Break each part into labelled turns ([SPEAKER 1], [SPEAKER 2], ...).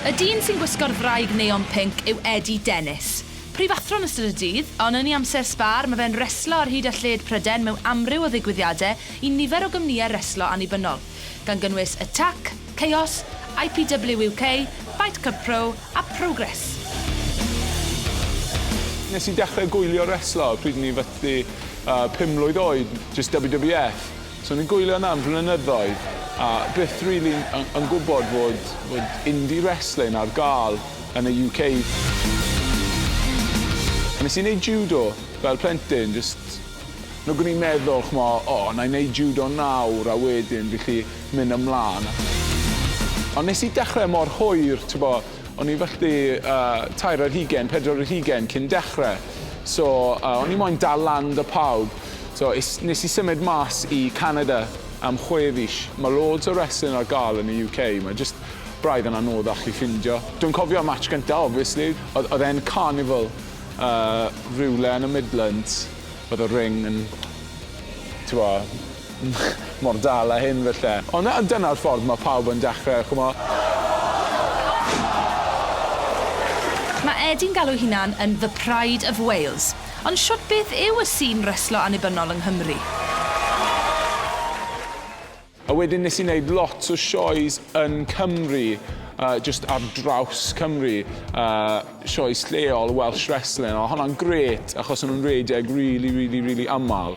[SPEAKER 1] Y dyn sy'n gwisgo'r ddraig neon pinc yw Eddie Dennis. Prifathro yn ystod y dydd, ond yn ei amser sbâr mae fe'n reslo ar hyd a lled Prydain mewn amryw o ddigwyddiadau i nifer o gwmnïau reslo annibynnol, gan gynnwys Attack, Chaos, IPW UK, Fight Club Pro a Progress.
[SPEAKER 2] Nes i dechrau gwylio reslo pryd o'n i'n fathu pum mlwydd oed, jyst WWF. So ni'n gwylio hwnna am flynyddoedd a byth rili yn yn gwbod fod fod indie wrestling ar ga'l yn y UK. Nes i neud jŵdo fel plentyn jyst nag o'n i'n meddwl ch'mo' o nâi neud jŵdo nawr a wedyn felly myn' ymlan. Ond nes i dechre mor hwyr t'bo' o'n i fallt'i yy tair ar hugen pedwar ar hugen cyn dechre so yy o'n i moyn dal lan 'da pawb. So, es, nes i symud mas i Canada am chwe fis. Mae loads o wrestling ar gael yn y UK, mae jyst braidd yn anoddach i ffindio. Dwi'n cofio match gynta, obviously, oedd, oedd e'n Carnival, uh, rywle yn y Midlands, oedd y ring yn, t'bo, mor dal a hyn falle. Ond na, dyna'r ffordd mae pawb yn dechrau, ch'mo'.
[SPEAKER 1] Mae Eddie'n galw'i hunan yn 'The Pride of Wales'. Ond shwt beth yw y sîn reslo annibynnol yng Nghymru?
[SPEAKER 2] A wedyn nes i neud lot o sioes yn Cymru yy jyst ar draws Cymru yy sioes lleol Welsh wrestling a o' honna'n grêt achos o'n nhw'n rhedeg rili rili rili amal.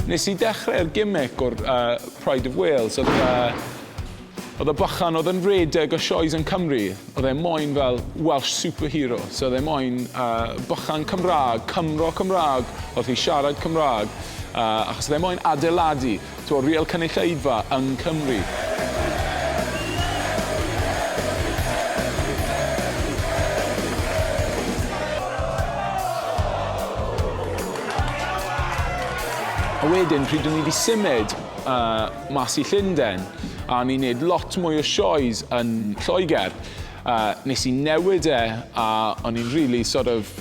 [SPEAKER 2] Nes i dechrau'r gimmick o'r uh, Pride of Wales, oedd uh, Oedd y bychan oedd yn redeg o sioes yn Cymru, oedd e moyn fel Welsh superhero. So oedd e moyn uh, bychan Cymraeg, Cymro Cymraeg, oedd hi siarad Cymraeg, uh, achos oedd e moyn adeiladu. Tro real cynulleidfa yng Nghymru. A wedyn pryd o'n i 'di symud mas i Llunden a o'n i'n neud lot mwy o sioes yn Lloegr nes i newid e a o'n i'n rili sort of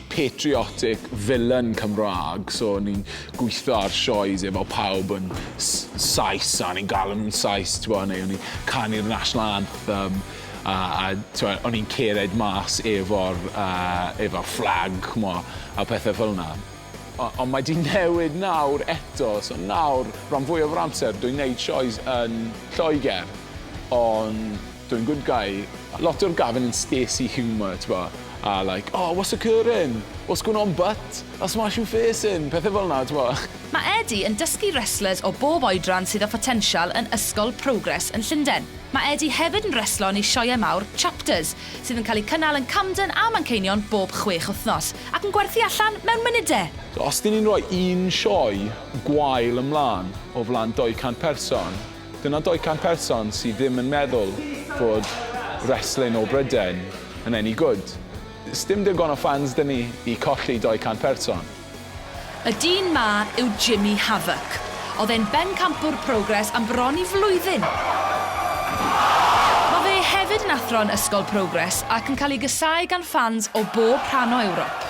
[SPEAKER 2] patriotic villain Cymraeg, so ni'n gweithio ar sioes efo pawb yn Sais, a ni'n galw nhw'n Sais, t'bo, neu o'n i'n canu'r National Anthem, a, a t'bo, o'n i'n cered mas efo'r uh, efo fflag, ch'mo, a pethau fel yna. Ond mae di newid nawr eto, so nawr, rhan fwyaf o'r amser, dwi'n neud sioes yn Lloegr, ond Doing good guy. Lot o'r Gavin yn spacey humour t'bo a like oh what's occurring? What's going on butt? I'll smash you face in! Pethe fel 'na t'bo. Mae Eddie yn
[SPEAKER 1] dysgu wrestlers o bob oedran sydd â photensial yn Ysgol Progress yn Llundain. Mae Eddie hefyd yn wrestlo yn ei sioeau mawr, Chapters, sydd yn cael eu cynnal yn Camden a Manceinion bob chwech wythnos, ac yn gwerthu allan mewn munudau! Os dyn ni'n rhoi
[SPEAKER 2] un sioe gwael ymlaen o flaen 200 person, Dyna 200 person sydd ddim yn meddwl fod wrestling o Brydain yn any good. Sdim digon o fans 'da ni i colli 200 person. Y
[SPEAKER 1] dyn 'ma yw Jimmy Havoc. Oedd e'n bencampwr Progress am bron i flwyddyn. Mae fe hefyd yn athro'n Ysgol Progress ac yn cael ei gasáu gan ffans o bob rhan o Ewrop.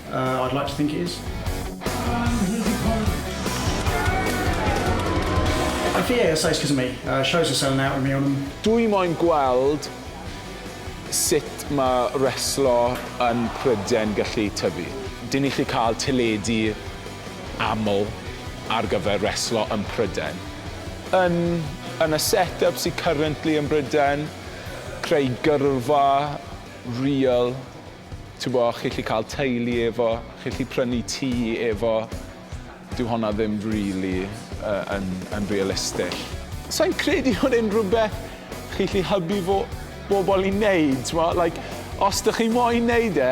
[SPEAKER 3] Uh, I'd like to think it is. I think yeah, says because of me. Uh, shows are selling out with me on them. Dwi moyn gweld
[SPEAKER 2] sut mae reslo yn Pryden gallu tyfu. Dyn ni chi cael teledu aml ar gyfer reslo yn Pryden. Yn, yn y set-up sydd currently yn Bryden, creu gyrfa real Tibod, chi'n gallu cael teulu efo, chi'n gallu prynu tŷ efo. Dyw honna ddim rili yn yn realistig. Sa i'n credu bod e'n rhywbeth chi'n gallu hybu fo- bobl i wneud, timod. Like, os dych chi moyn wneud e,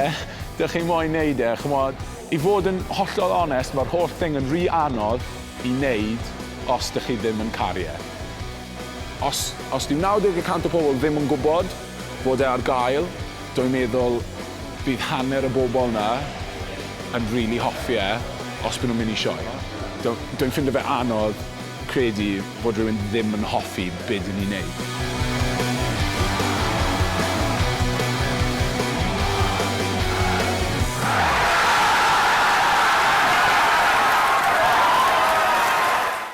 [SPEAKER 2] dych chi moyn wneud e, chimod. I fod yn hollol onest, mae'r holl thing yn rhy anodd i wneud os dych chi ddim yn caru e. Os os dyw 90 y cant o pobl ddim yn gwybod, Bod e ar gael, dwy'n meddwl bydd hanner y bobl 'na yn rili hoffi e os by' nhw'n mynd i sioe. Dwy'n ffindo fe anodd credu fod rhywun ddim yn hoffi be' dyn ni'n neud.